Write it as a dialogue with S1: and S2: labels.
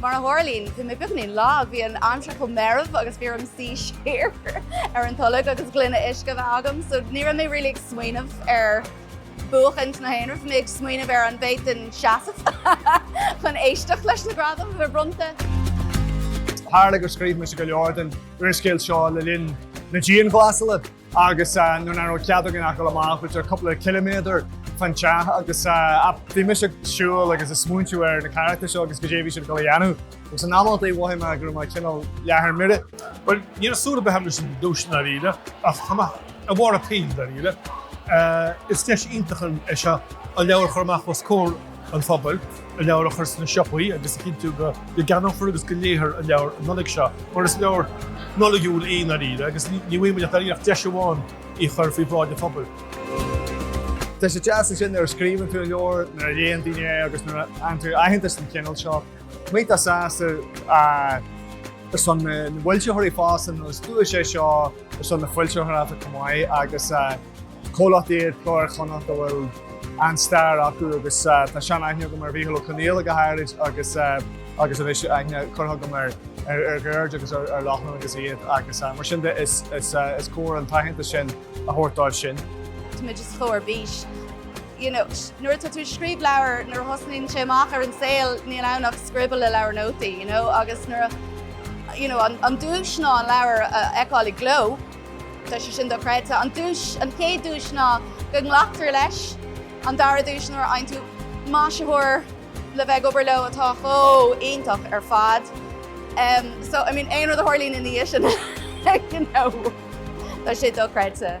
S1: Mar a tharlaíonn, bhí mé beagáinín lag, bhí an aimsir chomh meirbh agus bhí orm suí siar ar an tolg agus gloine uisce a bheith agam, so ní raibh mé really ag smaoineamh ar buachaint ná haon rud, bhí mé ag smaoineamh ar an bhféadfainn seasamh chun éisteacht leis na gradaim a bheith
S2: bronnta. Tharla gur scríobh mise go leor den úrscéal seo le linn na dianghlasála. Agus nuair nach raibh cead againn ach dul amach b'fhéidir cúpla ciliméadar fán teach agus bhí mise ag siúl agus ag smaointiú ar na carachtair seo agus goidé a bhí siad ag dul a dhéanamh. Agus in amantaí mhothaigh mé go raibh mé cineál leath ar mire. Bhuel, ní raibh
S3: súil ar bith agam leis an duais i ndáiríre ach tá mé over the moon i ndáiríre. Is deis iontach é seo an leabhar a chur amach os comhair an phobail. an leabhar a chur sna siopaí agus a chinntiú go gceannófar agus go léifear an leabhar an Nollaig seo, mar is leabhar Nollaigiúil é i ndáiríre agus ní bhfaighimid dáiríre ach deis amháin é a chur faoi bhráid an phobail.
S2: Tá sé deas ansin nuair a scríobhann tú leabhar, nuair a léann daoine é agus nuair a fhaigheann tú aitheantas den chineál seo. Mé iontach sásta ar son na bhfoilsitheoirí fosta nó is duais é seo ar son na foilsitheoireachta chomh maith agus Comhlacht iad Cló Iar-Chonnacht a bhfuil an-stair acu agus tá seanaithne agam ar Mhicheál Ó Conghaile go háirid agus anois aithne curtha agam ar Dheirdre agus ar Lochlainn agus iad agus mar sin de is cóir an t-aitheantas sin a thabhairt dóibh sin. Tá mé just
S1: ar bís. Nuair atá tú ag scríobh leabhair, nuair a thosnaíonn sé amach ar an saol, níl ann ach scribble i leabhar nótaí agus an duais ná an leabhar a fheiceáil i gcló. Tá sé sin dochreidte. An chéad duais ná go nglactar leis. An dara duais nuair a fhaigheann tú maisitheoir le bheith ag obair leo atá chomh iontach ar fad. Em, so, I mean, aon rud a tharlaíonn ina dhiaidh sin, you know, tá sé dochreidte.